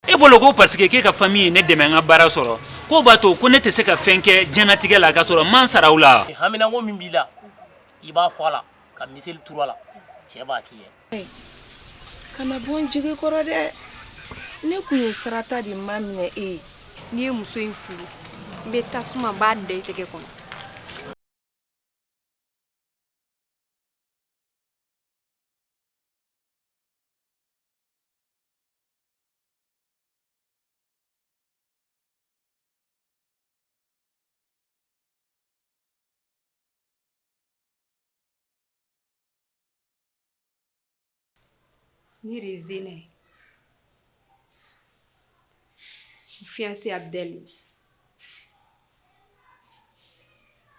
e bolo ko parce que k'e ka famille ye ne dɛmɛ n ka baara sɔrɔ k'o b'a to ko ne tɛ se ka fɛn kɛ diɲɛnatigɛ la k'a sɔrɔ n ma n sara u la wa haminanko min b'i la i b'a fɔ a la ka miseli turu a la cɛ b'a k'i ye kana bɔ n jigi kɔrɔ dɛ ne kun ye Sarata de maminɛ e ye n'i ye muso in furu n bɛ tasuma n b'a da i tɛgɛ kɔnɔ Ne de ye Zena ye n fiyanse Abudɛli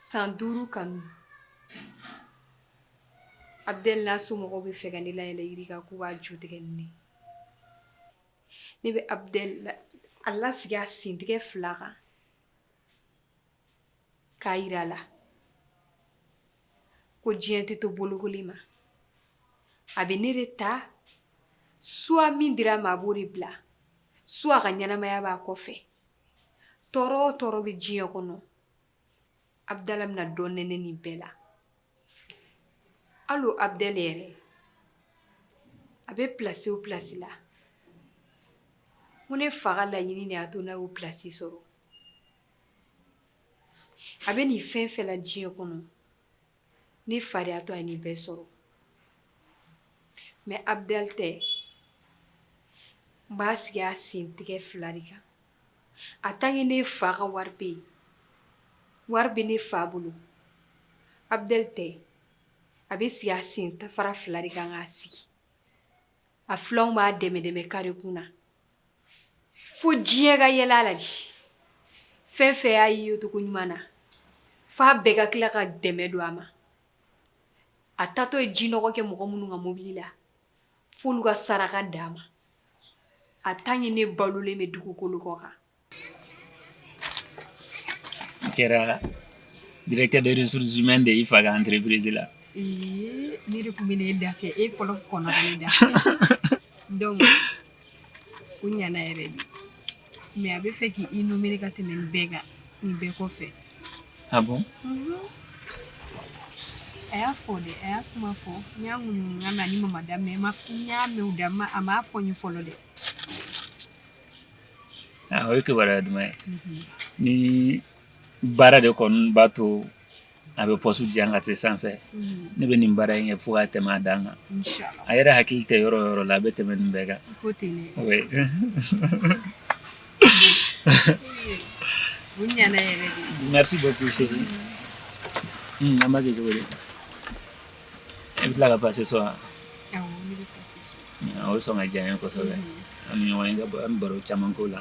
san duuru kanu Abudɛli n'a somɔgɔw b'a fɛ ka ne layɛlɛ yiri kan k'u b'a ju tigɛ ni ne ye ne bɛ Abudɛli a lasigi a sentigɛ fila kan k'a jira a la ko diɲɛ tɛ to bolokoli ma a bɛ ne de ta soit min dira a ma a b'o de bila soit ka ɲɛnamaya b'a kɔfɛ tɔɔrɔ o tɔɔrɔ bɛ diɲɛ kɔnɔ abudala bɛna dɔ nɛnɛ nin bɛɛ la hali o abudɛli yɛrɛ a bɛ pilasi o pilasi la ko ne fa ka laɲini de y'a to n'a y'o pilasi sɔrɔ a bɛ nin fɛn fɛn na diɲɛ kɔnɔ ne fa de y'a to a ye nin bɛɛ sɔrɔ mɛ Abudɛli tɛ n b'a sigi a sen tigɛ fila de kan a tant que ne fa ka wari bɛ yen wari bɛ ne fa bolo Abudɛli tɛ a bɛ sigi a sen tafara fila de kan k'a sigi a filanw b'a dɛmɛ dɛmɛ kare kun na fo diɲɛ ka yɛlɛ a la dɛ fɛn fɛn y'a ye yecogo ɲuman na fo a bɛɛ ka tila ka dɛmɛ don a ma a taatɔ ye ji nɔgɔ kɛ mɔgɔ minnu kan mobili la fo olu ka saraka d'a ma a tant que ne balolen bɛ dugukolo kɔ kan kɛra directeur des ressources humaines de y'i fa ka entreprise la ne tun bɛ e da e kɔnɔ da u ɲana yɛrɛ de mais a b'a fɛ k'i i nommer ka tɛmɛ nin bɛɛ kan nin bɛɛ kɔfɛ ah bon a y'a fɔ dɛ a y'a kuma fɔ n y'a ŋunuŋunukan mɛn ani mama da mais n y'a mɛn u da ma a m'a fɔ n ye fɔlɔ dɛ ah, o ye kibaruya duman ye ni baara de kɔni b'a to a bɛ poste di an ka taa sanfɛ ne bɛ nin baara in kɛ fo ka tɛmɛ a dan kan a yɛrɛ hakili tɛ yɔrɔ yɔrɔ la a bɛ tɛmɛ nin bɛɛ kan merci beaucoup an b'a kɛ cogo di i bɛ tila ka passer sɔn o sɔn ka diya ye kosɛbɛ an ɲɔgɔn an baro caman ko la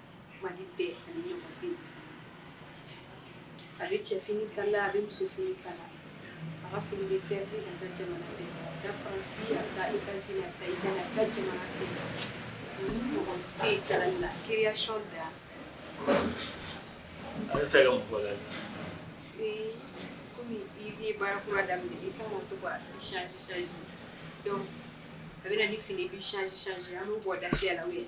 Mali bɛɛ a ɲɔgɔn tɛ a bɛ cɛ fini kala a bɛ muso fini kala a ka fini bɛ se a ka jamana bɛɛ ka fansi a ka i ka a ka i a ka jamana bɛɛ mɔgɔ tɛ kala la création da a bɛ fɛ ka mɔgɔ la ee kɔmi i ye baara kura daminɛ i ka to ka sisi dɔn a bɛ na ni fini bɛ sisi an bɛ bɔ da la ye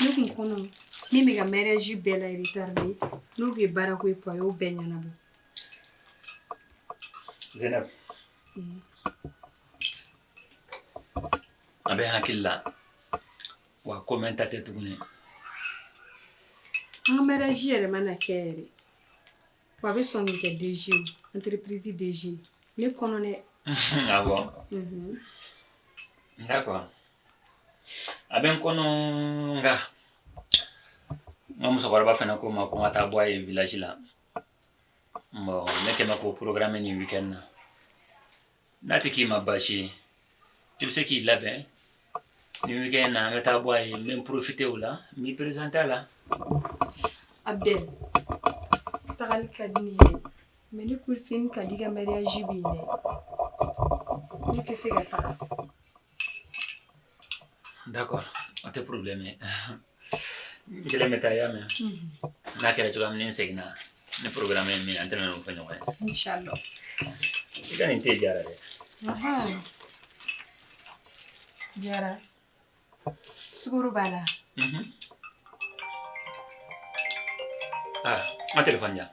ne kun kɔnɔ min bɛ ka mariage bila retard de n'o bɛ baara ko ye pɔ a y'o bɛɛ ɲɛnabɔ Zainab a bɛ n hakili la wa ko mɛɛnta tɛ tuguni an ka mariage yɛrɛ mana kɛ yɛrɛ Wa a bɛ sɔn kɛ DG ye entreprise DG ne kɔnɔ dɛ, unhun, ah bon? unhun, d'accord a bɛ n kɔnɔ nka n ka musokɔrɔba fana ko n ma ko n ka taa bɔ a ye village la bon ne kɛlen bɛ k'o programmer nin week-end na N'a tɛ k'i ma baasi ye i bɛ se k'i labɛn nin week-end na an bɛ taa bɔ a ye n bɛ profiter o la n b'i présenter a la Abdel tagali ka di ne ye mais n cousine Kadi ka mariage bɛ yen ne tɛ se ka taa D'accord o tɛ problème ye n kelen bɛ taa i y'a mɛn n'a kɛra cogoya min ni n seginna ni programme ye min ye an tɛna n'o fɔ ɲɔgɔn ye inchallah i ka nin te diyara dɛ diyara sukoro b'a la mhm. ah n ka telefɔni di yan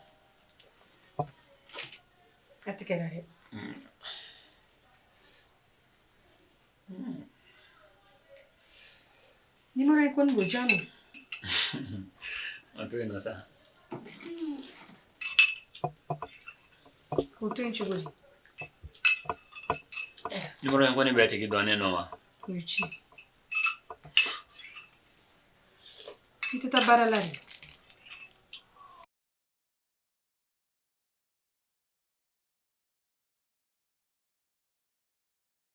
a tigɛra dɛ Ni mana i kɔni ko ja a to yen na sa o to yen cogo di ni mana in kɔni bɛ tigi dɔn ne nɔ wa o ye ci i tɛ taa baara la de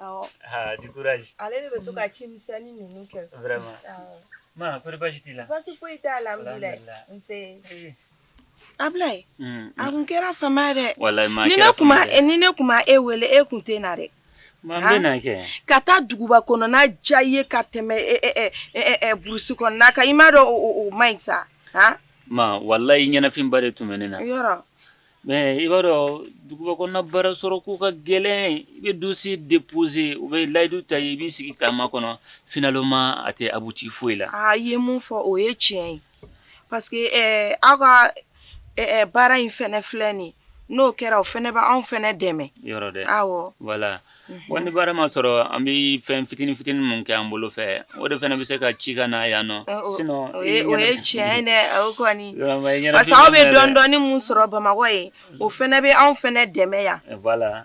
Aa di kuraji ale de bɛ to ka ci misɛnnin ninnu kɛ ma ko baasi t'i la baasi foyi t'a la ayi a tun kɛra fama dɛ ni ne tun e wele e tun tɛ na dɛ ka taa duguba kɔnɔna diya i ye ka tɛmɛ burusi kɔnɔna kan i m'a dɔn o man ɲi sa walayi i ɲɛnafinba de tun bɛ ne na Mɛ i b'a dɔn duguba kɔnɔ baara sɔrɔko ka gɛlɛn i bɛ dossier déposer u bɛ layidu ta i ye i b'i sigi k'a makɔnɔ finalement a tɛ abouti foyi la a ye mun fɔ o ye tiɲɛ ye parce que aw ka baara in fana filɛ nin n'o kɛra o fana b' anw fana dɛmɛ yɔrɔ dɛ awɔ wala Wa ni baara ma sɔrɔ an bɛ fɛn fitinin fitinin minnu kɛ an bolo fɛ o de fana bɛ se ka ci ka na yan nɔ aw bɛ dɔɔnin dɔɔnin min sɔrɔ Bamakɔ yen o fana bɛ anw fana dɛmɛ yan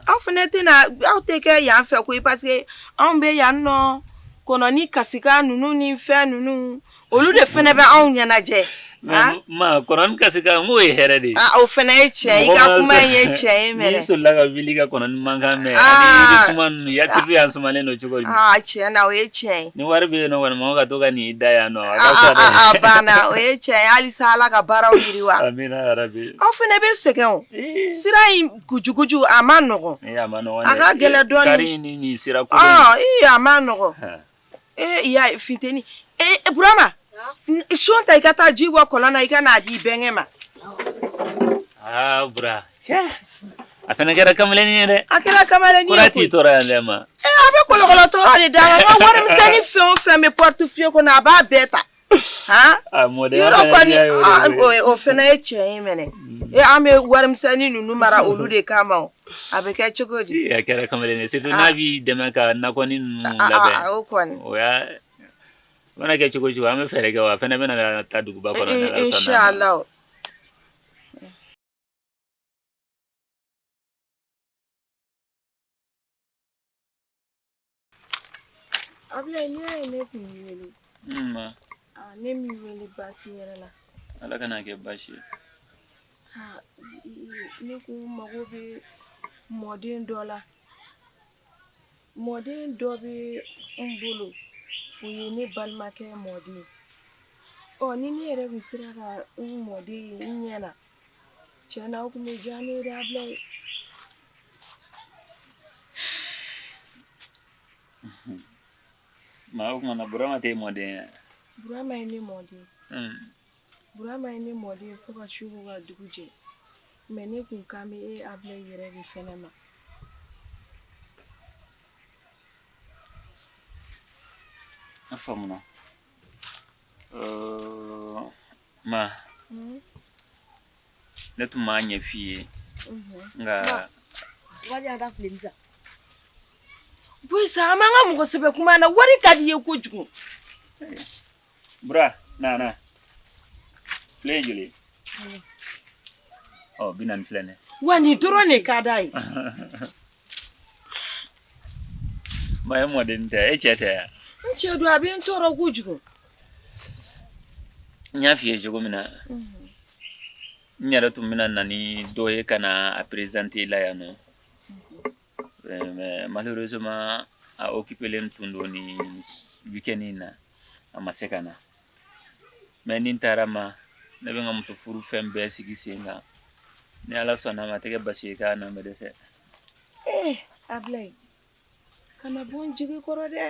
aw fana tɛna aw tɛ kɛ yan fɛ koyi parce que anw bɛ yan nɔ kɔnɔnin kasikan ninnu ni fɛn ninnu Olu de fana bɛ anw ɲɛnajɛ kɔnɔ kasi n'o ye hɛrɛ de ye o fana ye tiɲɛ ye i ka kuma ye tiɲɛ ye soli ka wuli ka kɔnɔ mankan mɛn ya yan sumannen don cogo tiɲɛ na o ye tiɲɛ ye ni wari bɛ ɲɔgɔn ka to ka nin da yan nɔ banna o ye tiɲɛ ye halisa Ala ka baaraw yiriwa aw fana bɛ sɛgɛn sira in jugujugu a man nɔgɔn a ka gɛlɛn dɔɔnin sira a man nɔgɔn Ee i y'a ye funteni ee Burama so ta i ka taa ji bɔ kɔlɔn na i ka n'a di i bɛnkɛ ma aa Bura a fana kɛra kamalennin ye dɛ a kɛra kamalennin ye koyi Bura t'i tɔɔrɔ yan dɛ ma ee a bɛ kɔlɔkɔlɔ tɔɔrɔ de da la n ka warimisɛnni fɛn o fɛn bɛ portefeuille kɔnɔ a b'a bɛɛ ta o fana ye tiɲɛ ye mɛnɛ e an bɛ warimisɛnnin ninnu mara olu de kama ma a bɛ kɛ cogo di kɛra kamalen ye n'a b'i dɛmɛ ka na kɔni mana kɛ cogo o cogo an bɛ fɛɛrɛ kɛ wa a fana bɛna taa duguba kɔnɔ Abilayi n'i y'a ye ne tun wele ne m'i wele baasi yɛrɛ la ala kana kɛ baasi ye ne kun mago bɛ mɔden dɔ la mɔden dɔ bɛ n bolo o ye ne balimakɛ mɔden ɔ ni ne yɛrɛ kun sera ka n mɔden ye n ɲɛ na tiɲɛ na o kun bɛ diya ne ye dɛ Abilayi maa o kuma na burama tɛ mɔden ye burama ye ne mɔden burama ye ne mɔden ye fo ka su ko ka dugu jɛ mɛ ne kun kan bɛ e Abilayi yɛrɛ de fɛnɛ ma a faamuna ma mm-hmm. ne tun m'a ɲɛ f'i ye mm-hmm. nka wari y'a da fili sa boyisa an b'an ka mɔgɔ sɛbɛ kuma na wari ka d'i ye kojugu bura na na file ye joli ɔ bi naani filɛ nin wari dɔrɔn de ka d'a ye ma e mɔden tɛ e cɛ tɛ yan n cɛ don a bɛ n tɔɔrɔ kojugu n y'a f'i ye cogo min na n yɛrɛ tun bɛna na ni dɔ ye ka na a présenter la yan nɔ malheureusement a occupelen tun don nin weekend in na a ma se ka na mais ni n taara ma ne bɛ n ka muso furu fɛn bɛɛ sigi sen kan ni ala sɔnna a ma a tɛ kɛ baasi ye k'a na bɛ dɛsɛ eh ablaye kana bɔ n jigi kɔrɔ dɛ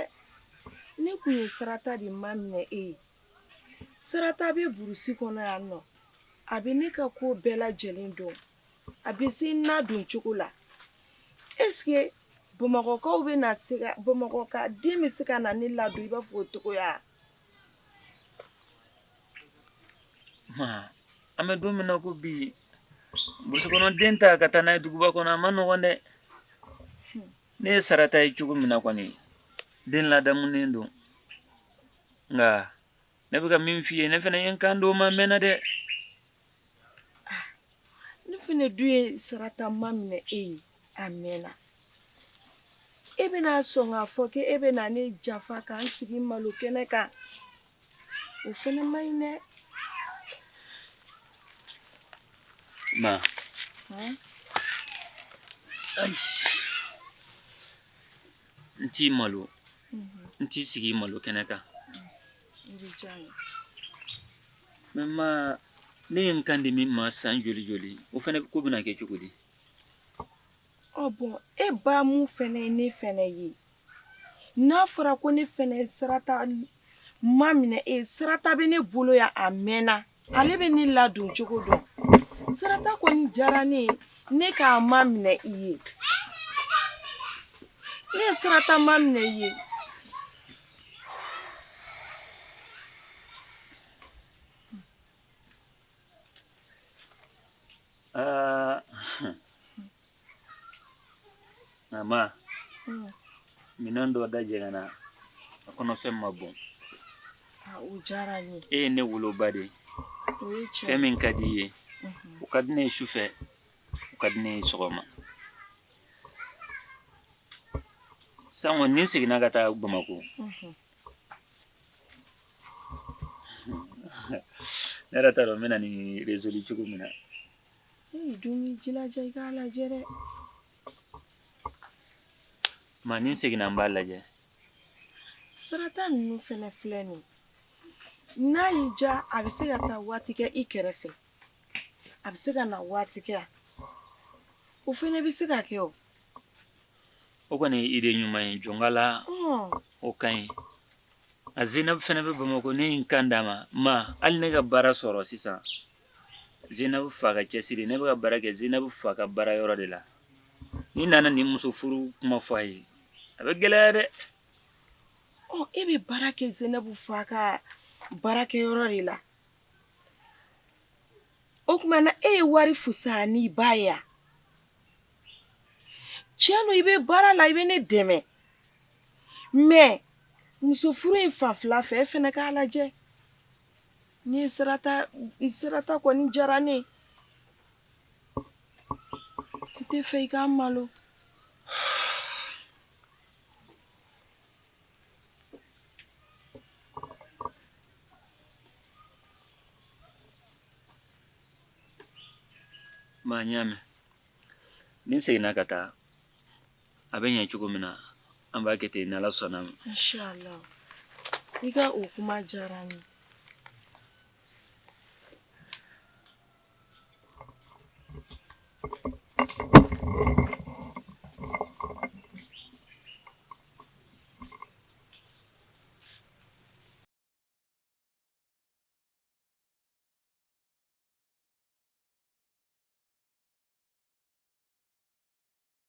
ne tun ye sarata de maminɛ e ye sarata bɛ burusi kɔnɔ yan nɔ a bɛ ne ka ko bɛɛ lajɛlen dɔn a bɛ se n ladon cogo la eseke bamakɔkaw bɛ na se ka bamakɔka den bɛ se ka na ne ladon i b'a fɔ o cogoya an bɛ don min na ko bi burusi kɔnɔ den ta ka taa n'a ye duguba kɔnɔ a ma nɔgɔn dɛ ne ye sarata ye cogo min na kɔni den ladamunen don nka ne bɛ ka min f'i ye ne fana ye n kan di dɔ ma a mɛnna dɛ ah, ne fana dun ye sarata maminɛ e ye a mɛnna e bɛna sɔn k'a fɔ k'e bɛna ne janfa ka n sigi malo kɛnɛ kan o fana ma ɲi dɛ ma n t'i malo n t'i sigi malo kɛnɛ kan mɛ ma ne ye n kan di min ma san joli joli o fana ko bɛna kɛ cogo di ɔ bɔn e ba min fana ye ne fana ye n'a fɔra ko ne fana ye sarata maminɛ e ye sarata bɛ ne bolo yan a mɛnna ale bɛ ne ladon cogo dɔn sarata kɔni diyara ne ye ne k'a maminɛ i ye ne ye sarata maminɛ i ye Nka ma minɛn dɔ da jɛgɛnna a kɔnɔfɛn ma bɔn o diyara n ye e ye ne woloba de ye o ye tiɲɛ fɛn min ka di i ye o ka di ne ye sufɛ o ka di ne ye sɔgɔma san kɔni ni n seginna ka taa bamakɔ ne yɛrɛ t'a dɔn n bɛna nin résoudre cogo min na I dun b'i jilaja i k'a lajɛ dɛ. Ma ni n seginna n b'a lajɛ sarata ninnu fana filɛ nin n'a y'i diya a bɛ se ka taa waati kɛ i kɛrɛfɛ a bɛ se ka na waati kɛ o fana bɛ se ka kɛ o o kɔni ye idée ɲuman ye jɔn k'ala o ka ɲi a zina fana bɛ bamakɔ ne ye n kan d'a ma ma hali ne ka baara sɔrɔ sisan Zinabu fa ka cɛsiri ne bɛ ka baara kɛ zinabu fa ka baara yɔrɔ de la ni n nana nin musofuru kuma fɔ a ye a bɛ gɛlɛya dɛ e bɛ baara kɛ zinabu fa ka baarakɛyɔrɔ de la o tuma na e ye wari fusaya n'i ba ye tiɲɛ don i bɛ baara la i bɛ ne dɛmɛ mɛ musofuru in fan fila fɛ e fana k'a lajɛ Ni sarata i sarata kɔni diyara ne ye n t'a fɛ i ka n malo ma n y'a mɛn ni n seginna ka taa a bɛ ɲɛ cogo min na an b'a kɛ ten n'ala sɔnn'a ma inshallah i ka o kuma diyara n ye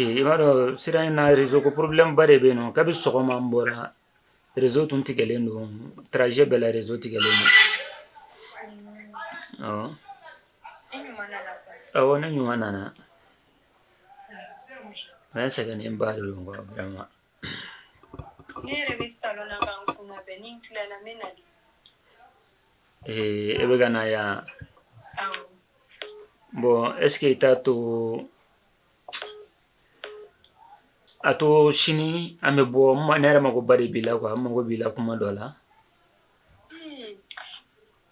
Ee i b'a dɔn sira in na rezo ko porobilɛmuba de bɛ yen nɔn kabi sɔgɔma n bɔra rezo tun tigɛlen don trajet bɛɛ la rezo tigɛlen don ɔ ne ɲuman nana mɛ sɛgɛnnenba de ma ne yɛrɛ bɛ salon na ka n kun labɛn ni n tilala n bɛ na de ee e bɛ ka na yan awɔ bon est ce que i t'a to a to sini an bɛ bɔ n ma- ne yɛrɛ magoba de b'i la quoi n mago b'i la kuma dɔ la Hmm,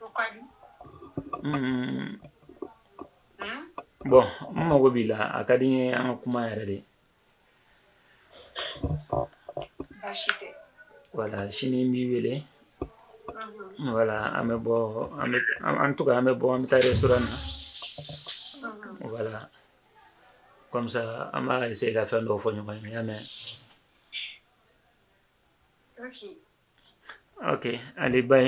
o ka di Mm, Hmm? bon n mago b'i la a ka di n ye an ka kuma yɛrɛ de Wala sini n b'i wele wala an bɛ en tout cas an bɛ bɔ an bɛ taa restaurant na wala kɔmisa an bɛ se ka fɛn dɔ fɔ ɲɔgɔn ye mɛn OK allez bye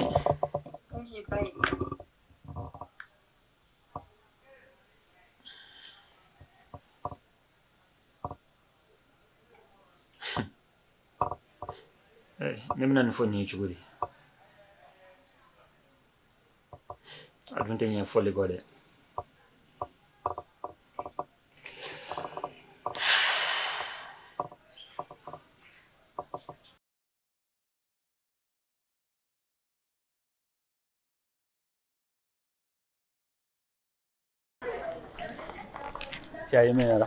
Eh, ne bɛna nin fɔ nin ye cogo di a dun tɛ ɲɛ fɔli kɔ dɛ Cɛ ye mɛnyara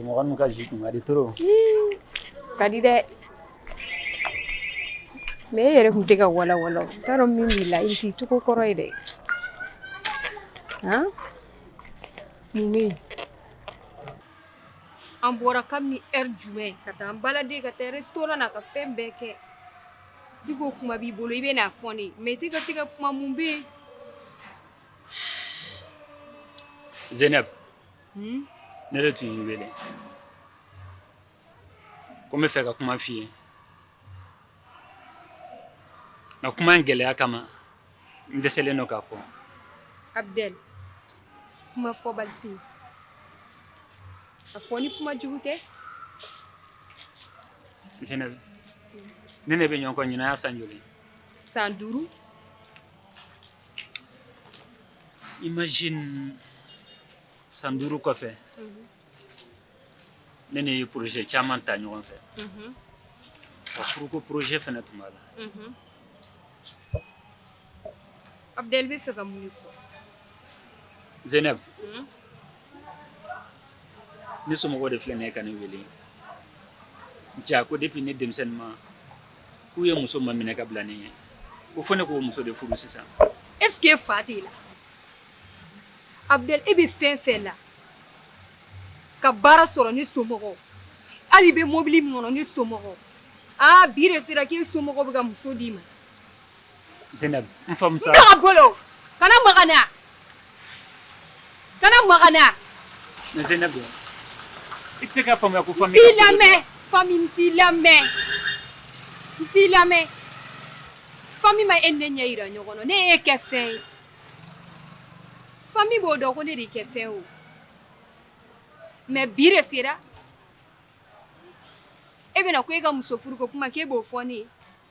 mɔgɔ ka ji kun kadi to ka di dɛ mɛ e yɛrɛ tun tɛ ka walawala n taara dɔn min b'i la nin t'i cogo kɔrɔ ye dɛ mun an bɔra kabini heure jumɛn ka taa an balade ka taa restaurant na ka fɛn bɛɛ kɛ I ko kuma b'i bolo i bɛna a fɔ n ye mɛ i tɛ se ka kuma mun b'i zɛnɛ ne de tun y'i wele ko n b'a fɛ ka kuma f' i ye nka kuma in gɛlɛya kama n dɛsɛlen don k'a fɔ a bɛ kuma fɔbali tɛ yen a fɔ ni kuma jugu tɛ Zenɛbi ne n'e bɛ ɲɔgɔn kɔ ɲinan y'a san joli san duuru imagine san duuru kɔfɛ ne n'e ye projet caman ta ɲɔgɔn fɛ ka furuko projet fɛnɛ tun b'a la abudɛli i bɛ fɛ ka mun de fɔ Zenɛbi ne somɔgɔw de filɛ nin ye ka ne wele ja ko depuis ne denmisɛnninma k'u ye muso maminɛ ka bila ne ɲɛ ko fo ne k'o muso de furu sisan est ce que fa t'i la abudɛli e bɛ fɛn fɛn la ka baara sɔrɔ ne somɔgɔw hali i bɛ mobili min kɔnɔ ne somɔgɔw aa bi de sera k'e somɔgɔw bɛ ka muso d'i ma Zainab, n faamu sa. N ka bolo, kana maga ne la, kana maga ne la. Mais Zainab, i tɛ se k'a faamuya ko famille ka ko don. N t'i lamɛn, famille n t'i lamɛn, n t'i lamɛn, famille ma e ni ne ɲɛ jira ɲɔgɔn na, ne y'e kɛ fɛn ye, famille b'o dɔn ko ne de y'i kɛ fɛn ye o, mais bi de sera e bɛ na ko e ka muso furuko kuma k'e b'o fɔ ne ye.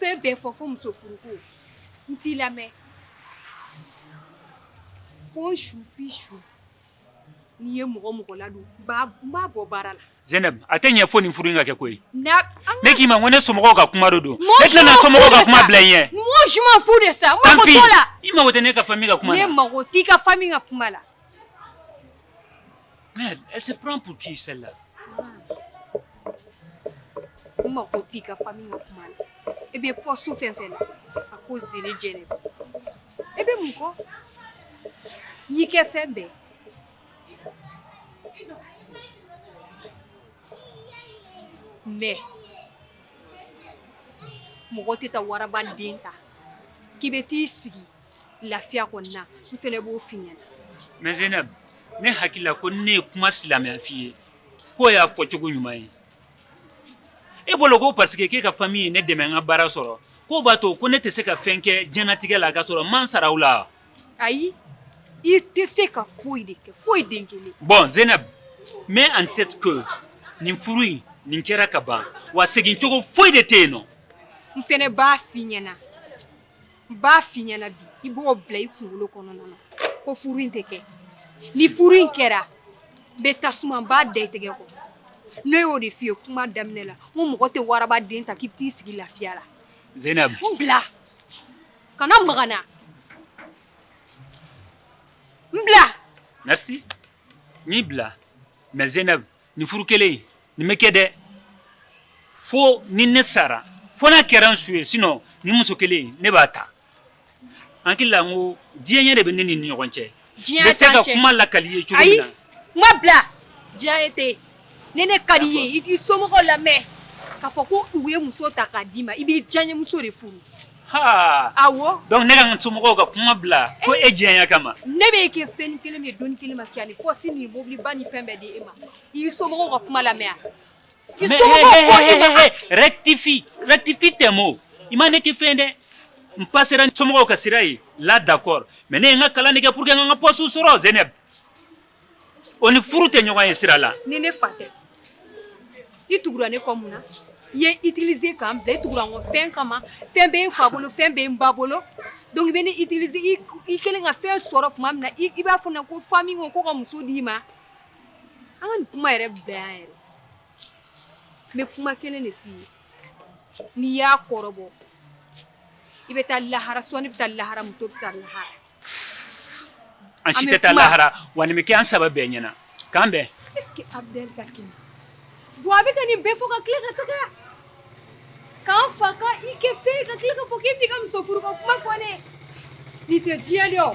fɛn bɛɛ fɔ fo muso furuko n t'i lamɛn fo n su f'i su n'i ye mɔgɔ mɔgɔ ladon n b'a n b'a bɔ baara la Zeneb a tɛ ɲɛ fo nin furu in ka kɛ koyi n'a an ne k'i ma ko ne somɔgɔw ka kuma de don Mɔɔ ne si tɛna ma somɔgɔw furu ka de kuma sa. bila i ɲɛ mɔɔ si ma fu de sa n tant mago pis t'o la i mago tɛ ne ka famille ka kuma ne na mago t'i ka famille ka kuma la Elle, elle se prend pour qui celle-là N mako t'i ka famille ka kuma la i bɛ poste fɛn fɛn na à cause de ne Zeneb i bɛ mun kɔ n y'i kɛ fɛn bɛɛ mais mɔgɔ tɛ taa waraba den ta k'i bɛ t'i sigi lafiya kɔni na n fana b'o f'i ɲɛna mais Zeneb ne hakili la ko ni ne ye kuma silamɛya f'i ye k'o y'a fɔ cogo ɲuman ye e bolo ko parce que k'e ka famille ye ne dɛmɛ n ka baara sɔrɔ k'o b'a to ko ne tɛ se ka fɛn kɛ diɲɛnatigɛ la k'a sɔrɔ n ma n sara u la ayi i tɛ se ka foyi de kɛ foyi den kelen bon Zeneb mets en tête que nin furu in nin kɛra ka ban wa segin cogo foyi de tɛ yen nɔ n fana b'a f'i ɲɛna n b'a f'i ɲɛna bi i b'o bila i kunkolo kɔnɔna na ko furu in tɛ kɛ ni furu in kɛra n bɛ tasuma n b'a da i tɛgɛ kɔ ne y'o de f'i ye kuma daminɛ la n ko mɔgɔ tɛ waraba den ta k'i bɛ t'i sigi lafiya la Zeynab n bila kana maga n na n bila merci n y'i bila mais Zeynab nin furu kelen in nin bɛ kɛ dɛ fo ni ne sara fo n'a kɛra n su ye sinon nin muso kelen in ne b'a ta n hakili la n ko diyaɲɛ de bɛ ne n'i ni ɲɔgɔn cɛ n bɛ se ka kuma lakali i ye cogo min na ayi n ma bila diyaɲɛ tɛ yen ni ne ka di i ye i t'i somɔgɔw lamɛn k'a fɔ ko u ye muso ta k'a d'i ma i b'i diyaɲɛmuso de furu Donc ne ka n somɔgɔw ka kuma bila ko e diya kama ne bɛ kɛ fɛn kelen min don kelen ma kɛ ni pɔsi ni mobiliba ni fɛn bɛɛ di e ma i somɔgɔw ka kuma lamɛn rectifie rectifie tɛ ma i ma ne kɛ fɛn dɛ n ba sera somɔgɔw ka sira ye la d'accord mais ne ye n ka kalan de kɛ pour que n ka n ka pɔsi sɔrɔ Zeynab O ni furu tɛ ɲɔgɔn ye sira la ni ne fa tɛ i tugura ne kɔ mun na i ye n utilisé k'an bila i tugu fɛn kama fɛn bɛ n fa bolo fɛn bɛ n ba bolo donc i bɛ ne utiliser i kɛlen ka fɛn sɔrɔ tuma min na i b'a fɔ ne ko fa min ko ko ka muso d'i ma an ka nin kuma yɛrɛ bɛn an yɛrɛ n bɛ kuma kelen de f'i ye n'i y'a kɔrɔbɔ i bɛ taa lahara sɔn ne bɛ taa lahara muso bɛ taa lahara An si tɛ taa lahara wa nin bɛ kɛ an saba bɛɛ ɲɛna k'an bɛn est ce que Abudɛli ka kɛnɛ bon a bɛ ka nin bɛɛ fɔ ka tila ka taga ka n fa ka i kɛ fɛn ye ka tila k'a fɔ k'e bɛna i ka musofuru ko kuma fɔ ne ye nin tɛ diyaɲɛ dɛ o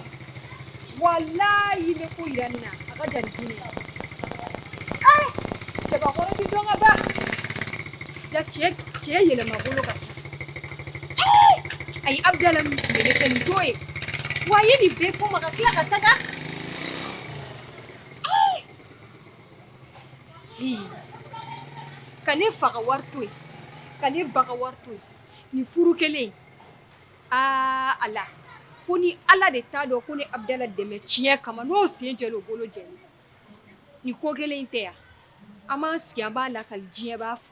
walayi ne ko jira n na a ka jan ni diyaɲɛ ye ee cɛbakɔrɔ tɛ dɔn ka ban ja cɛ cɛ yɛlɛmabolo ka ca ayi Abudala min tun bɛ ne fɛ nin t'o ye wa a ye nin bɛɛ fɔ n ma ka tila ka taga ka ne fa ka wari to yen ka ne ba ka wari to yen nin furu kelen aa ala fo ni ala de t'a dɔn ko ne y'Abudala dɛmɛ tiɲɛ kama n'o sen jɛ o bolo jɛ nin ko kelen in tɛ yan an b'an sigi an b'a lakali diɲɛ b'a fɔ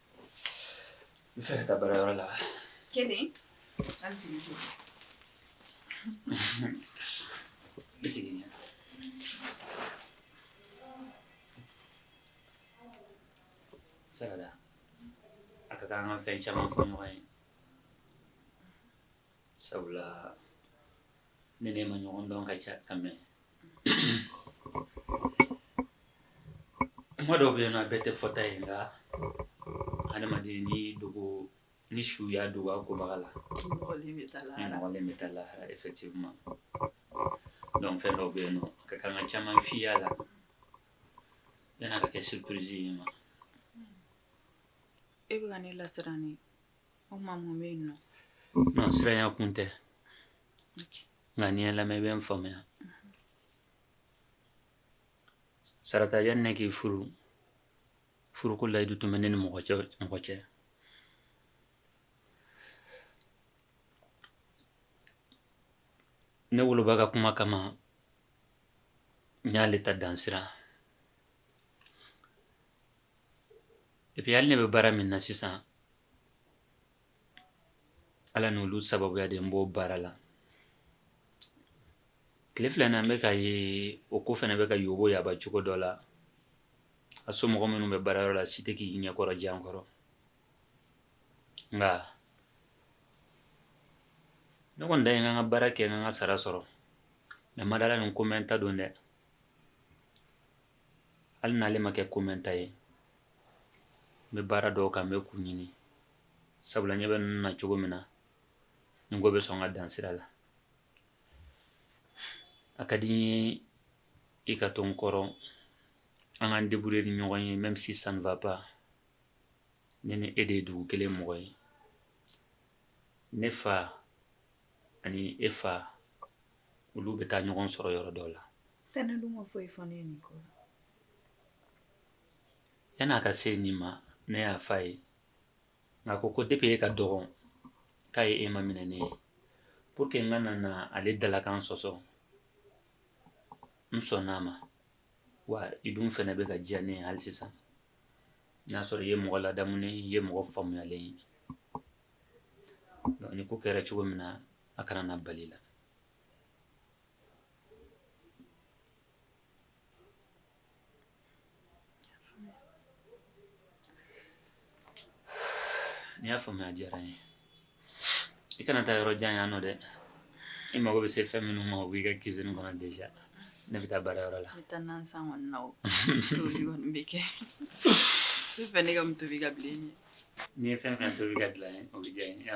N fa ka baara yɔrɔ la kelen an tun jɔ bɛ segin ɲɛ sagada a ka kan an ka fɛn caman fɔ ɲɔgɔn ye sabula ne n'e ma ɲɔgɔn dɔn ka ca ka mɛn kuma dɔw bɛ yen a bɛɛ tɛ fɔta ye nka adamaden ni dogo ni su y'a dogo a kobaga la nɔgɔlen bɛ taa lahara effectivement donc fɛn dɔw bɛ yen nɔ ka kan ka caman f'i y'a la yan'a ka kɛ surprise ye mais e bɛ ka ne lasiran ne o kuma mun bɛ yen nɔ non siranya kun tɛ nka n'i ye n lamɛn i bɛ n faamuya Sarata yani ne k'i furu furuko layidu tun bɛ ne ni mɔgɔ cɛ mɔgɔ cɛ ne woloba ka kuma kama n y'ale ta dan sira epi hali ne bɛ baara min na sisan Ala ni olu sababuya de n b'o baara la tile fila na n bɛ k'a ye o ko fana bɛ ka yoboyaba cogo dɔ la a somɔgɔ minnu bɛ baarayɔrɔ la si tɛ k'i ɲɛkɔrɔ jan kɔrɔ nka ne kɔni ta ye n ka n ka baara kɛ n ka n ka sara sɔrɔ nka n ma d'a la nin ko mɛnta don dɛ hali n'ale ma kɛ ko mɛnta ye n bɛ baara dɔw kan n bɛ k'u ɲini sabula n ɲɛ bɛ ninnu na cogo min na nin ko bɛ sɔn ka dan sira la a ka di n ye i ka to n kɔrɔ an k'an débrouiller ni ɲɔgɔn ye même si ça ne va pas ne ni e de ye dugu kelen mɔgɔ ye ne fa ani e fa olu bɛ taa ɲɔgɔn sɔrɔ yɔrɔ dɔ la tɛnɛ dun ma foyi fɔ ne ye nin ko la yan'a ka se nin ma ne y'a f'a ye nka ko ko de bɛ e ka dɔgɔn k'a ye e ma minɛ ne ye pour que n kana na ale dalakan sɔsɔ n sɔnn'a ma wa i dun fana bɛ ka diya ne ye hali sisan n y'a sɔrɔ i ye mɔgɔ ladamunen ye mɔgɔ faamuyalen ye donc nin ko kɛra cogo min na a kana na bal'i la N'i y'a faamuya a diyara n ye i kana taa yɔrɔ jan yan nɔ dɛ i mago bɛ se fɛn minnu ma o b'i ka cuisine kɔnɔ déjà ne bɛ taa baarayɔrɔ la bɛ ne ka tobi ka bila n'i ye fɛn fɛn tobi ka bila o bɛ diya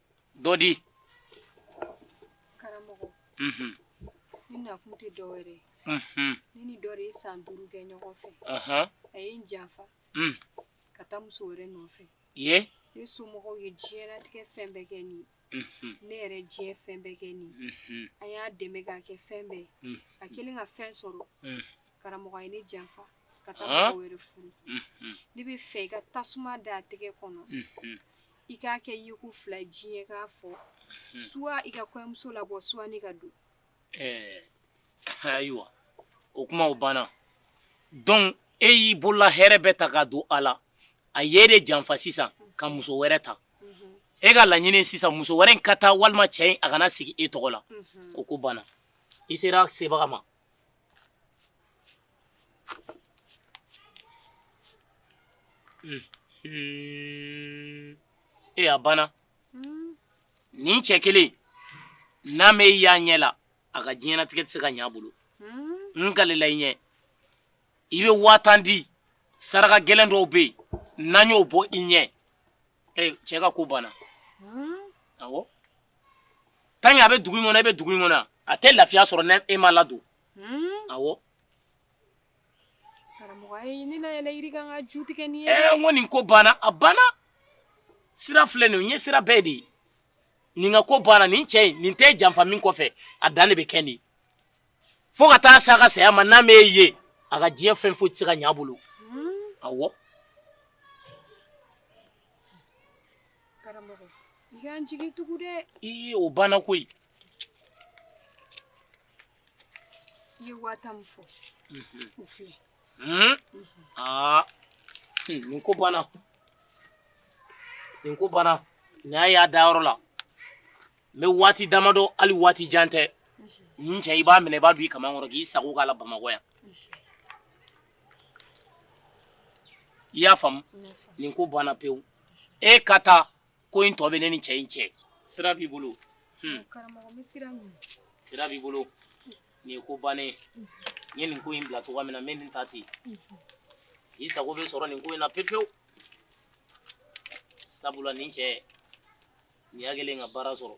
dɔ di karamɔgɔ mhm ne nakun tɛ dɔ wɛrɛ ye mhm ne ni dɔ de ye san duuru kɛ ɲɔgɔn fɛ aha a ye n janfa Mm. ka taa muso wɛrɛ nɔfɛ ye ne somɔgɔw ye diɲɛlatigɛ fɛn bɛɛ kɛ nin mhm ne yɛrɛ diɲɛ fɛn bɛɛ kɛ nin mhm an y'a dɛmɛ k'a kɛ fɛn bɛɛ Mm. a kɛlen ka fɛn sɔrɔ Mm. karamɔgɔ a ye ne janfa ka taa Ah. mɔgɔ wɛrɛ furu mhm ne b'a fɛ i ka tasuma da a tɛgɛ kɔnɔ mhm I k'a kɛ ye ko fila diɲɛ k'a fɔ soit i ka kɔmuso labɔ soit ne ka don ɛɛ ayiwa o kuma banna dɔn e y'i bolola hɛrɛ bɛɛ ta k'a don a la a y'e de janfa sisan ka muso wɛrɛ ta e ka laɲini sisan muso wɛrɛ in ka taa walima cɛ in a kana sigi e tɔgɔ la o ko banna i sera sebaga ma E a banna nin cɛ kelen n'a m'e ye a ɲɛ la a ka diɲɛnatigɛ tɛ se ka ɲɛ a bolo n kalela i ɲɛ i bɛ waa tan di saraka gɛlɛn dɔw bɛ yen n'an y'o bɔ i ɲɛ ee cɛ ka ko banna awɔ tant que a bɛ dugu in kɔnɔ e bɛ dugu in kɔnɔ a tɛ lafiya sɔrɔ ni e ma ladon awɔ karamɔgɔ ayi ne na yɛlɛ yiri kan k'a ju tigɛ ni ye ee n ko nin ko banna a banna sira filɛ nin ye n ye sira bɛɛ de ye nin ka ko banna nin cɛ in nin tɛ janfa min kɔfɛ a dan de bɛ kɛ nin ye fo ka taa se a ka saya ma n'a m'e ye a ka diɲɛ fɛn foyi tɛ se ka ɲɛ a bolo awɔ karamɔgɔ i k'an jigi tugu dɛ ii o banna koyi i ye waa tan min fɔ o filɛ Hmm? aa hmm, nin ko banna nin ko banna nin y'a y'a da yɔrɔ la n bɛ waati damadɔ hali waati jan tɛ nin cɛ i b'a minɛ i b'a don i kaman kɔrɔ k'i sago k'a la bamakɔ yan i y'a faamu nin ko banna pewu e ka taa ko in tɔ bɛ ne ni cɛ in cɛ sira b'i bolo hmm. sira b'i bolo nin ye ko bannen ye n ye nin ko in bila cogoya min na n bɛ nin ta ten k'i sago bɛ sɔrɔ nin ko in na pewu pewu sabula nin cɛ Nin y'a kɛlen ye ka baara sɔrɔ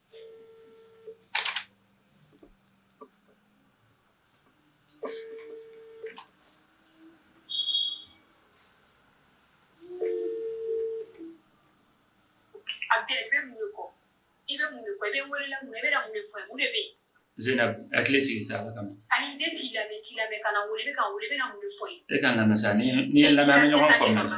Zeynab hakili sigi sa ala kama e ka n lamɛn sa n'i ye n lamɛn ɲɔgɔn faamuya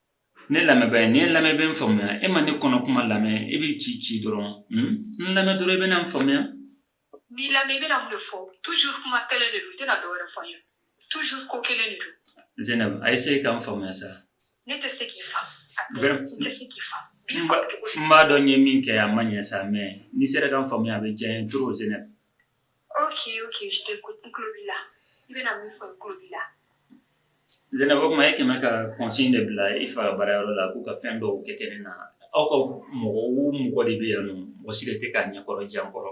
Ne lamɛn ba n'i ye n lamɛn i bɛ n faamuya e ma ne kɔnɔ kuma lamɛn e bɛ ci ci dɔrɔn n lamɛn dɔrɔn i bɛ n faamuya ni lamɛn bɛna mun fɔ tu kuma kelen de don tɛna dɔw fɔ ye tu ko kelen de don Zeynab a ye se ka n faamuya sa ne tɛ se k'i fa n b'a dɔn n ye min kɛ a ma ɲɛ sa mɛ n'i sera ka n faamuya a bɛ diya n ye dɔrɔn Zeynab Zeynab tuma e kɛmɛ ka kɔsɔn de bila i fa baarayɔrɔ la k'u ka fɛn dɔw kɛ kɛnɛ na aw ka mɔgɔ o mɔgɔ de bɛ yan mɔgɔ si tɛ k'a ɲɛkɔrɔ jan kɔrɔ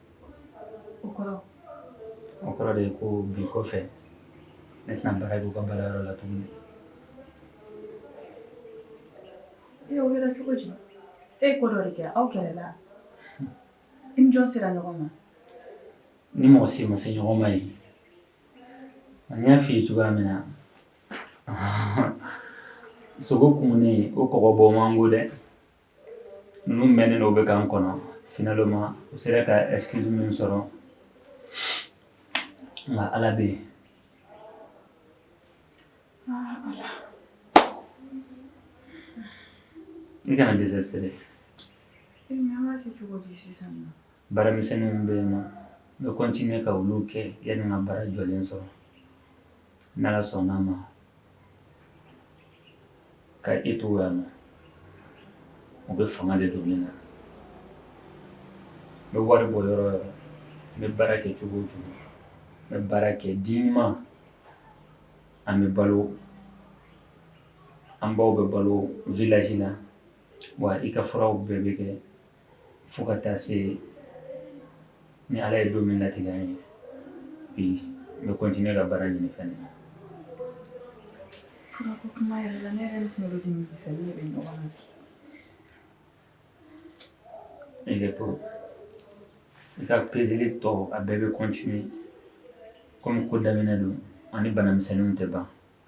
o kɔrɔ o kɔrɔ de ye ko bi kɔfɛ ne tɛna baara k'u ka baara yɔrɔ la tuguni e o kɛra cogo di e ko dɔ de kɛ aw kɛlɛla i ni jɔn sera ɲɔgɔn ma n ni mɔgɔ si ma se ɲɔgɔn ma ye n y'a f'i ye cogoya min na sogo kumunen o kɔgɔ bɔ man go dɛ ninnu mɛnnen don u bɛ k'an kɔnɔ finalement u sera ka excuse min sɔrɔ nka ala bɛ yen i kana dɛsɛ Baara misɛnninw bɛ yen n bɛ continuer ka olu kɛ yanni ka baara jɔlen sɔrɔ n'ala sɔnna a ma ka e to yan na u bɛ fanga de don min na n bɛ wari bɔ yɔrɔ o yɔrɔ n bɛ baara kɛ cogo o cogo n bɛ baara kɛ di ɲuman an bɛ balo an baw bɛ balo village la wa i ka furaw bɛɛ bɛ kɛ fo ka taa se ni ala ye don min latigɛ n ye bi n bɛ continuer ka baara ɲini fana na kuma yɛrɛ la ne yɛrɛ kunkolo de misɛn ne bɛ ɲɔgɔn na bi i kɛtɔ i ka pezeli tɔ a bɛɛ bɛ continuer kɔmi ko daminɛ don ani banamisɛnninw tɛ ban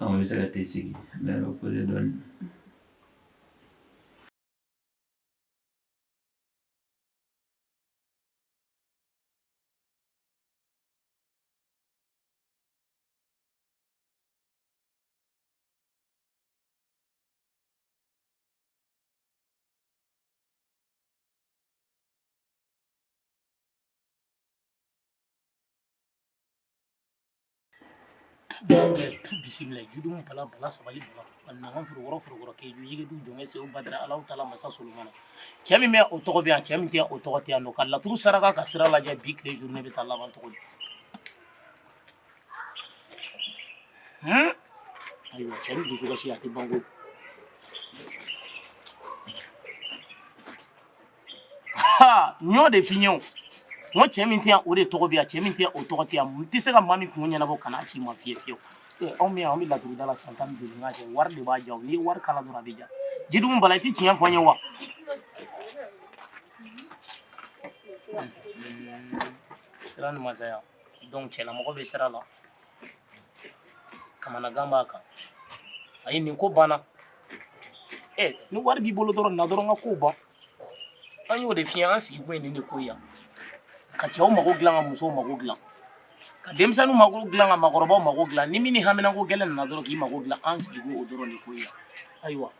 Anw bɛ se ka tɛ sigi mɛ o ko dɔn bisimila jitumu bala bala sabali bala a nakan foro wɔrɔ foro wɔrɔ keju yige du jɔnkɛ sew badara alaw taala masa solomana cɛ min bɛ yan o tɔgɔ bɛ yan cɛ min tɛ yan o tɔgɔ tɛ yan nɔ ka laturu saraka ka sira lajɛ bi tile jour ne bɛ taa laban tɔgɔ di ayiwa cɛ ni dusukasi a tɛ ban koyi ha n y'o de f'i ye o n ko cɛ min tɛ yan o de tɔgɔ bɛ yan cɛ min tɛ yan o tɔgɔ tɛ yan n tɛ se ka maa min kun ɲɛnabɔ kan'a ci ma fiye fiyewu ee anw bɛ yan anw bɛ laturu da la san tan ni duuru ɲɔgɔn cɛ wari de b'a diya o n'i ye wari k'a la dɔrɔn a bɛ diya jitumu bala i tɛ tiɲɛ fɔ n ye wa sira ni masaya donc cɛlamɔgɔ bɛ sira la Kamanagan b'a kan a ye nin ko banna ɛ eh, ni wari b'i bolo dɔrɔn na dɔrɔn ka ko ban an y'o de f'i ye an sigi bɛ nin de kɔ yan ka cɛw mago dilan ka musow mago dilan ka denmisɛnninw mago dilan ka makɔrɔbaw mago dilan ni min ni haminanko gɛlɛn nana dɔrɔn k'i mago dilan an sigi b'o dɔrɔn de kɔ yan ayiwa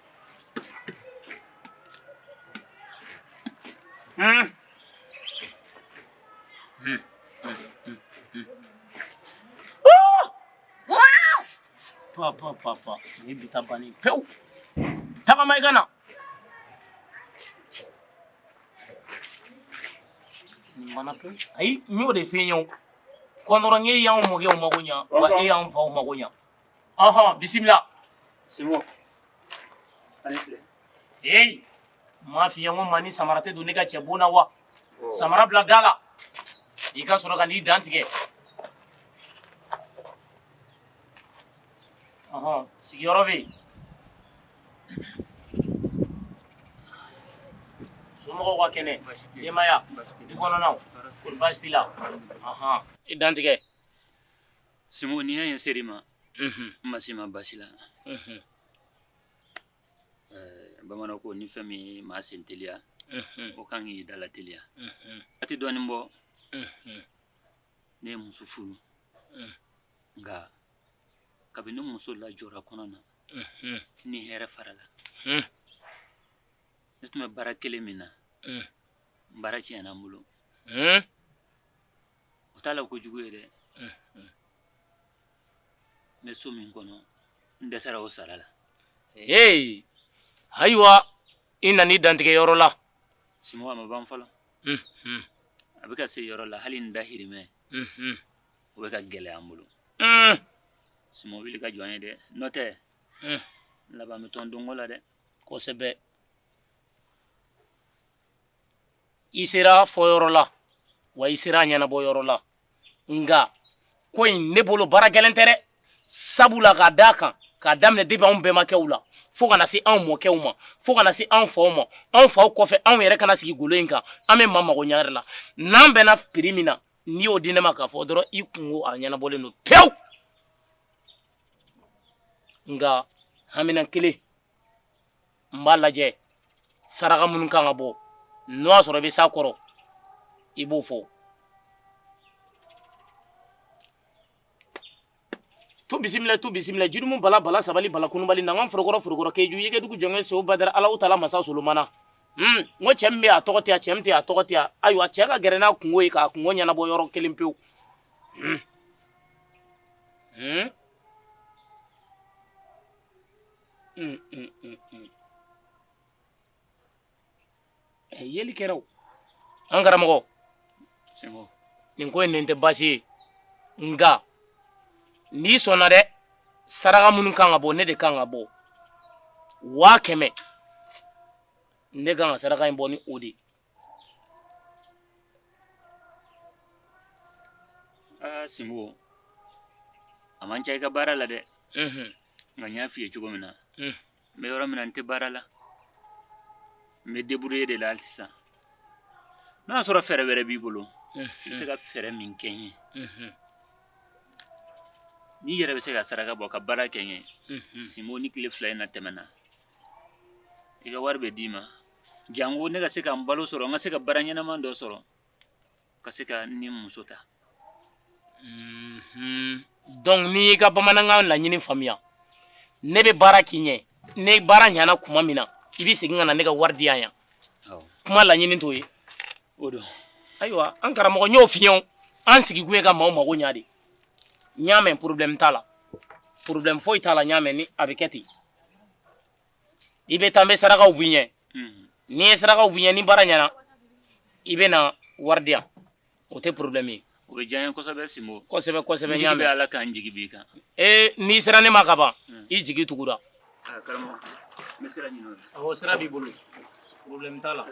hmm. Pa pa pa pa ni bi taa banni pewu tagama i ka na nin mana pewu ayi n y'o de f'i ye o kɔntɔrɔn e y'anw mɔkɛw mago ɲa wa e y'anw faw mago ɲa ɔhɔn bisimila Sinbo. Allez, Clé. Hey M'a f'i ye ko maa ni samara tɛ don ne ka cɛ bon na wa? Samara bila da la, i ka sɔrɔ ka n'i dantigɛ. Ɔnhɔn, sigiyɔrɔ bɛ yen. Somɔgɔw ka kɛnɛ? Baasi tɛ yen. Denbaya? Baasi tɛ yen. Du kɔnɔnaw? Tɔɔrɔ si tɛ yen. Kɔri baasi t'i la? Alhamdulilahi. Ɔnhɔn, i dantigɛ. Sinbo, n'i y'a ye n ser'i ma, n ma s'i ma basi la. Bamanan ko ni fɛn min maa sen teliya o ka kan k'i da lateliya waati dɔɔnin bɔ ne ye muso furu nka kabini ne muso lajɔra kɔnɔ na ni hɛrɛ farala ne tun bɛ baara kelen min na baara tiɲɛna n bolo u t'a la ko jugu ye dɛ n bɛ so min kɔnɔ n dɛsɛra o sara la ee ayiwa i nana i dantigɛ yɔrɔ la sinbo a ma ban fɔlɔ mhm. a bɛ ka se yɔrɔ la hali n dahirimɛ mhm. o bɛ ka gɛlɛya n bolo mm. sinbo wuli ka jɔ n ye dɛ n'o tɛ n laban bɛ tɔn donko la dɛ kosɛbɛ i sera a fɔ yɔrɔ la wa i sera a ɲɛnabɔ yɔrɔ la nka ko in ne bolo baara gɛlɛn tɛ dɛ sabu la k'a d'a kan k'a daminɛ depuis anw bɛnbakɛw la fo ka na se anw mɔkɛw ma fo ka na se anw faw ma anw faw kɔfɛ anw yɛrɛ ka na sigi golo in kan an bɛ maa mago ɲa de la n'an bɛnna prix min na n'i y'o di ne ma k'a fɔ dɔrɔn i kunko a ɲɛnabɔlen don pewu nka haminan kelen n b'a lajɛ saraka minnu kan ka bɔ n'o y'a sɔrɔ i bɛ s'a kɔrɔ i b'o fɔ tu bisimila tu bisimila jurumu bala bala sabali bala kunubali na n ka forokɔrɔ forokɔrɔ keju yɛgɛdugu jɔnkɛ sew badara alaw tala masa solomana n ko cɛ min bɛ a tɔgɔ tɛ a cɛ min tɛ a tɔgɔ tɛ a ayiwa cɛ ka gɛrɛ n'a kunko ye k'a kunko ɲɛnabɔ yɔrɔ kelen pewu un un un un ɛ yeli kɛra o an karamɔgɔ sinbo nin ko in nin tɛ baasi ye nka n'i sɔnna dɛ saraka minnu kan ka bɔ ne de kan k'a bɔ waa kɛmɛ ne kan ka saraka in bɔ ni o de ye aa sinbo a man ca i ka baara la dɛ Mhm. nka n y'a f'i ye cogo min na Mm. n bɛ yɔrɔ min na n tɛ baara la n bɛ débrouiller de la hali sisan n'o y'a sɔrɔ fɛɛrɛ wɛrɛ b'i bolo i bɛ se ka fɛɛrɛ min kɛ n ye Mhm. n'i yɛrɛ bɛ se ka saraka bɔ ka baara kɛ n ye Mhm. sinbo ni tile fila in na tɛmɛna i ka wari bɛ d'i ma janko ne ka se ka n balo sɔrɔ n ka se ka baara ɲɛnama dɔ sɔrɔ ka se ka ni muso ta mhm. donc ni n y'i ka bamanankan laɲini faamuya ne bɛ baara k'i ɲɛ ne baara ɲana kuma min na i bɛ segin ka na ne ka wari di yan yan kuma laɲini t'o ye o don ayiwa an karamɔgɔ n y'o f'i ye an sigikun ye ka maaw mago ɲa de n y'a mɛn problème t'a la problème foyi t'a la n y'a mɛn ni a bɛ kɛ ten i bɛ taa n bɛ sarakaw b'i ɲɛ ni n ye sarakaw b'i ɲɛ ni baara ɲɛna i bɛ na wari di yan o tɛ problème ye o bɛ diya n ye kosɛbɛ Sinbo kosɛbɛ kosɛbɛ n y'a mɛn n jigi bɛ Ala kan n jigi b'i kan ee n'i sera ne ma ka ban i jigi tugura karamɔgɔ n bɛ sira ɲini o la awɔ sira b'i bolo problème t'a la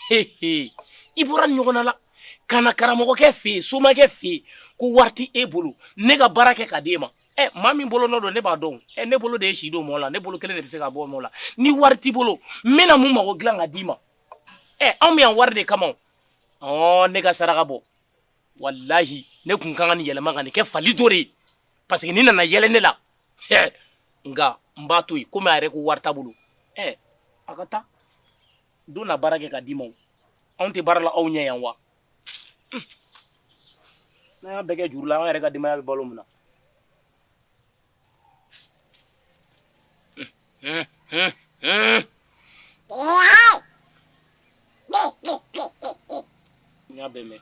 i bɔra ɲɔgɔn la ka na karamɔgɔkɛ fɛ yen somakɛ fɛ yen ko wari t'e bolo ne ka baara kɛ ka di e ma ɛ maa min bolo nɔ don ne b'a dɔn ɛ ne bolo de ye si don mɔgɔ la ne bolo kelen de bɛ se k'a bɔ mɔgɔ la ni wari t'i bolo n bɛna mun mago dilan ka d'i ma ɛ an bɛ yan wari de kama ɔ ne ka saraka bɔ walahi ne tun ka kan nin yɛlɛma ka nin kɛ fali dɔ de ye parce que nin nana yɛlɛ ne la nka n b'a to yen komi a yɛrɛ ko wari t'a bolo ɛ a ka taa dɔ na baara kɛ ka d'i ma o anw tɛ baara la aw ɲɛ yan wa n'an y'a bɛɛ kɛ juru la an yɛrɛ ka denbaya bɛ balo mun na n y'a bɛɛ mɛn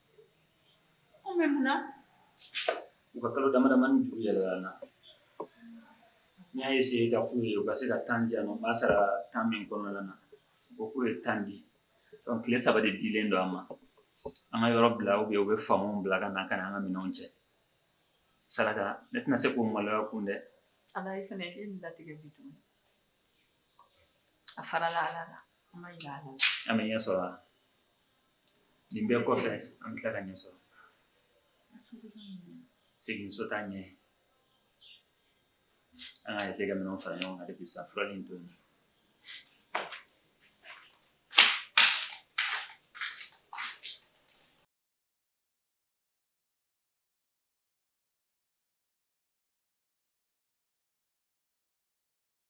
Ko mɛ mun na u ka kalo damadamanin juru yɛlɛla n y'a ye se k'a fɔ u ye u ka se ka temps di an b'a sara temps min kɔnɔna na u k'u ye temps di tile saba de dilen don an ma an ka yɔrɔ bila u u bɛ faama bila ka na ka an ka minɛnw cɛ saraka ne tɛna se k'o maloya kun dɛ ala e fana e ni latigɛ bi tuguni a farala ala la an ma an bɛ ɲɛ sɔrɔ Nin bɛɛ kɔfɛ an bɛ tila ka ɲɛ sɔrɔ segin so tan ɲɛ an ka se ka minɛnw fara ɲɔgɔn kan bi sa fura ni to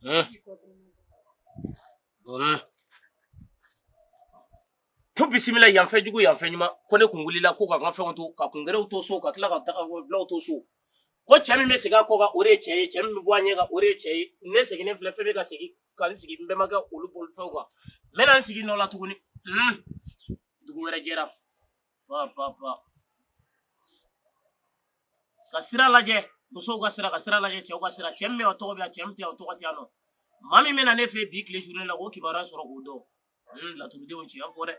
Hmm. Hmm. tu bisimila yanfɛ jugu yanfɛ ɲuman ko ne kun wulila ko ka n ka fɛnw to ka kungɛrɛw to so ka tila ka tagabulaw to so ko cɛ min bɛ segin a kɔ kan o de ye cɛ ye cɛ min bɛ bɔ a ɲɛ kan o de ye cɛ ye ne seginnen filɛ fɛn bɛ ka segin ka n sigi n bɛnbakɛ olu bolifɛnw kan n bɛna n sigi nɔ la tuguni dugu wɛrɛ jɛra ka sira lajɛ musow ka sira ka sira lajɛ cɛw ka sira cɛ min bɛ o tɔgɔ bɛ yan cɛ min tɛ yan o tɔgɔ tɛ yan nɔ maa min bɛna ne fɛ bi tile journée la k'o kibaruya sɔrɔ k'o dɔn hmm, laturudenw tiɲɛ fɔ dɛ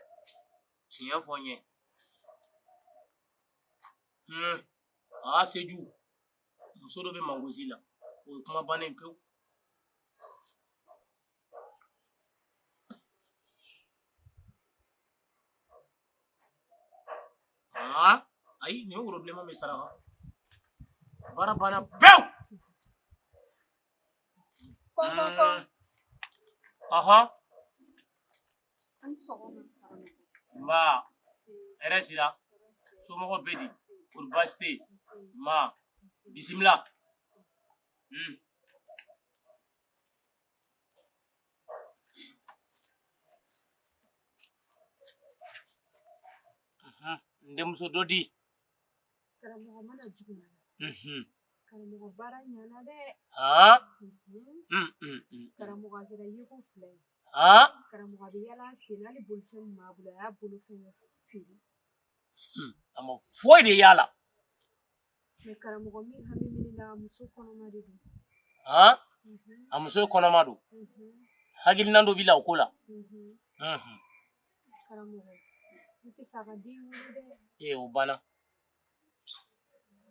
tiɲɛ fɔ n ye hmm, aa seju muso dɔ bɛ mangosi la o ye kuma bannen pewu ayi n'i ye woro bilenman min saraka baara banna pewu ɔhɔn nba hɛrɛ sira somɔgɔw bɛ di kori baasi tɛ yen nba bisimila N denmuso dɔ di karamɔgɔ n ma na juguman na karamɔgɔ baara ɲana dɛ karamɔgɔ a kɛra yeko fila ye karamɔgɔ a bɛ yaala sen na hali bolifɛn min b'a bolo a y'a bolofɛn feere a ma foyi de y'a la Karamɔgɔ a muso ye kɔnɔma don hakilina dɔ b'i la o ko la o banna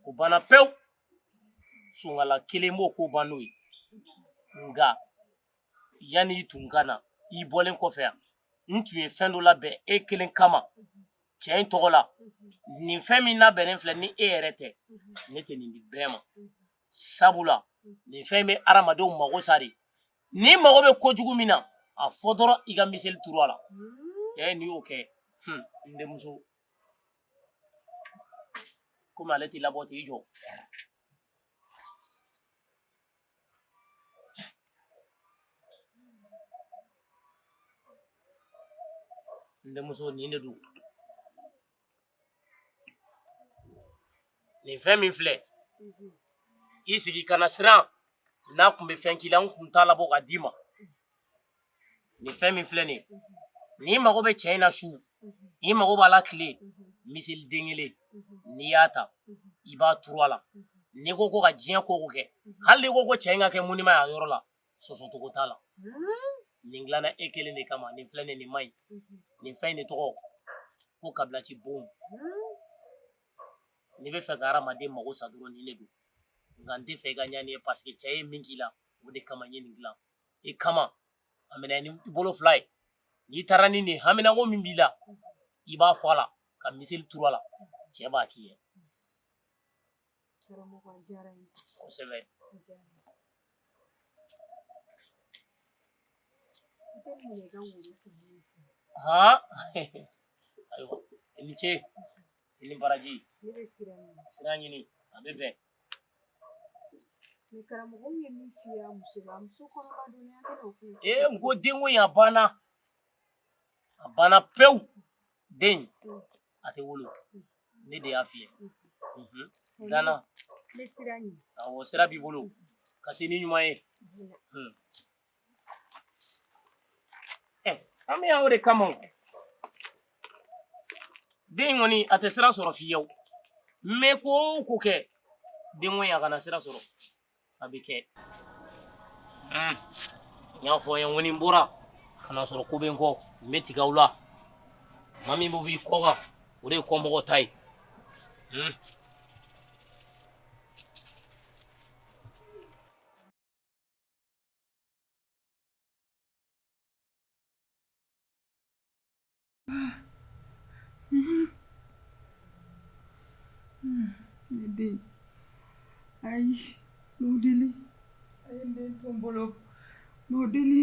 o banna pewu sonkala kelen b'o ko ban n'o ye nka yanni i tun ka na i bɔlen kɔfɛ yan n tun ye fɛn dɔ labɛn e kelen kama cɛ in tɔgɔ la nin fɛn min labɛnnen filɛ ni e yɛrɛ tɛ ne tɛ nin di bɛɛ ma sabula nin fɛn bɛ adamadenw mago sa dɛ n'i mago bɛ kojugu min na a fɔ dɔrɔn i ka miseli turu a la ee n'i y'o kɛ n denmuso komi ale t'i labɔ t'i jɔ N denmuso nin de don nin fɛn min filɛ i sigi kana siran n'a tun bɛ fɛn k'i la n tun t'a labɔ ka d'i ma nin fɛn min filɛ nin n'i mago bɛ cɛ in na su n'i mago b'a la tile miseli den kelen n'i y'a ta i b'a turu a la n'i ko ko ka diɲɛ ko o ko kɛ hali n'i ko ko cɛ in ka kɛ munima y'a yɔrɔ la sɔsɔcogo t'a la nin dilanna e kelen de kama nin filɛ nin nin man ɲi nin fɛn in de tɔgɔ ko kabilaci bon n'i bɛ fɛ ka hadamaden mago sa dɔrɔn nin de don nka n tɛ fɛ i ka ɲani ye paseke cɛ ye min k'i la o de kama n ye nin dilan i kama a minɛ n'i bolo fila ye n'i taara ni nin ye haminako min b'i la i b'a fɔ a la ka miseli turu a la cɛ b'a k'i ye kosɛbɛ han ayiwa i ni ce i ni baraji sira ɲini a bɛ bɛn Karamɔgɔ ye min fɔ yan muso la muso kɔnɔma don ne hakili t'o fɔ ye ee n ko den ko in a banna a banna pewu den in a tɛ wolo ne de y'a f'i ye unhun danna n bɛ siran ɲɛ awɔ sira b'i bolo ka se n'i ɲuman ye hun eh, an bɛ yan o de kama o den in kɔni a tɛ sira sɔrɔ fiyewu n bɛ ko o ko kɛ den ko in a kana sira sɔrɔ a bɛ kɛ n y'a fɔ n ye n ko ni n bɔra ka na sɔrɔ ko bɛ n kɔ n bɛ tigɛ aw la maa min bɛ b'i kɔ kan o de ye kɔmɔgɔ ta ye Ne den ayi n b'aw deli a ye n den to n bolo n b'aw deli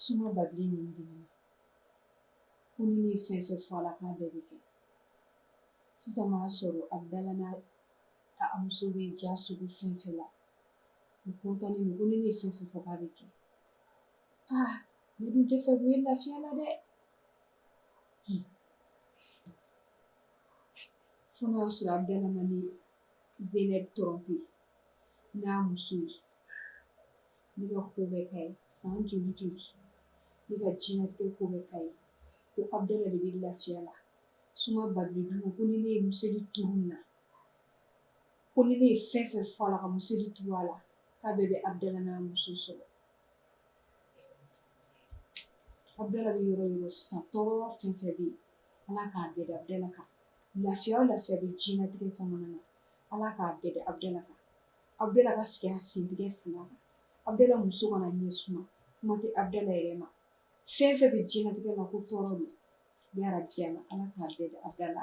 Soma Babilen nin di ne ma ko ni ne ye fɛn fɛn fɔ a la k'a bɛɛ bɛ kɛ sisan n'a sɔrɔ Abdala n'a a muso bɛ diya sugu fɛn fɛn la u kɔntannen don ko ni ne ye fɛn fɛn fɔ k'a bɛ kɛ aa ne dun t'a fɛ k'u ye lafiya la dɛ Fo n'a y'a sɔrɔ Abdala ma ne Zeynɛb trompe n'a muso ye, ne ka ko bɛɛ k'a ye san joli joli, ne ka diɲɛlatigɛ ko bɛɛ k'a ye, ko Abdala de bɛ lafiya la, Soma Babilen dun ko ni ne ye miseli turu nin na, ko ni ne ye fɛn o fɛn fɔ a la ka miseli turu a la, k'a bɛɛ bɛ Abdala n'a muso sɔrɔ Abdala bɛ yɔrɔ yɔrɔ sisan tɔɔrɔ fɛn fɛn bɛ yen Ala k'a bɛɛ da Abdala kan lafiya o lafiya bɛ diɲɛlatigɛ kɔnɔna na Ala k'a bɛɛ da Abdala kan Abdala ka sigi a sentigɛ fila kan Abdala muso kana ɲɛ suma kuma tɛ Abdala yɛrɛ ma fɛn fɛn bɛ diɲɛlatigɛ la ko tɔɔrɔ don yarabi Ala Ala k'a bɛɛ da Abdala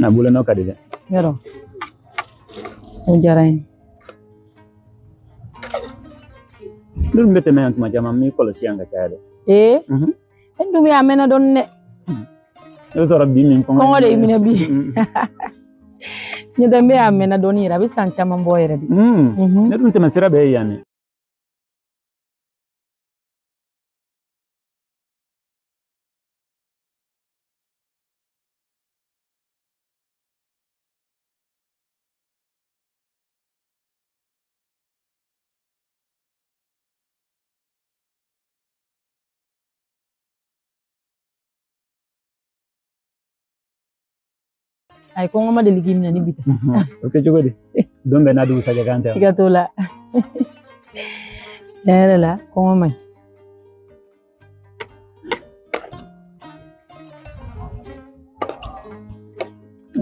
na bolo nɔ ka di dɛ yɔrɔ o diyara n ye ne dun bɛ tɛmɛ yan tuma caman n b'i kɔlɔsi yan ka caya dɛ ee Mhm. e dun bɛ a mɛnna dɔɔni dɛ i b'a sɔrɔ bi min kɔngɔ kɔngɔ de y'i minɛ bi Mhm. n'o tɛ n bɛ a mɛnna dɔɔni yɛrɛ a bɛ san caman bɔ yɛrɛ de Mhm. Mhm. ne dun tɛmɛ sira bɛɛ ye yan dɛ ayi kɔngɔ ma deli k'i minɛ ni bi tɛ o kɛ cogo di don bɛɛ n'a dugusajɛ kan dɛ siga t'o la tiɲɛ yɛrɛ la kɔngɔ man ɲi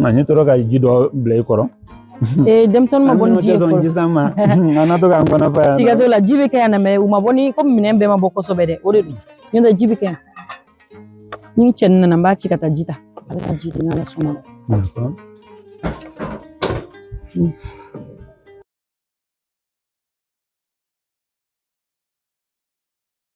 Ani tora ka ji dɔ bila i kɔrɔ ee denmisɛnnin ma bɔ ni ji ye fɔlɔ ji san ma an na to k'an kɔnɔ fa yan siga t'o la ji bɛ kɛ yan mɛ u ma bɔ ni komi minɛn bɛɛ ma bɔ kosɛbɛ dɛ o de don n'o tɛ ji bɛ kɛ yan ni cɛ nana n b'a ci ka taa ji ta a bɛ ka ji di n'ala sɔnna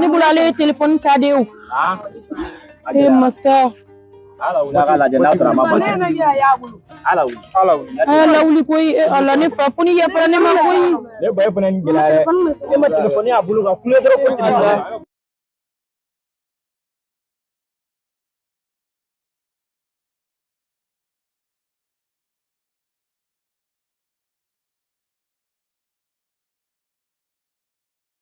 Ne bolo ale ye telefɔni ta de ye o ee masa lawuli koyi ala ne fa fo n'i yafara ne ma koyi ne ba fana ni gɛlɛya dɛ ne ma telefɔni y'a bolo ka kule dɔrɔn ko tigi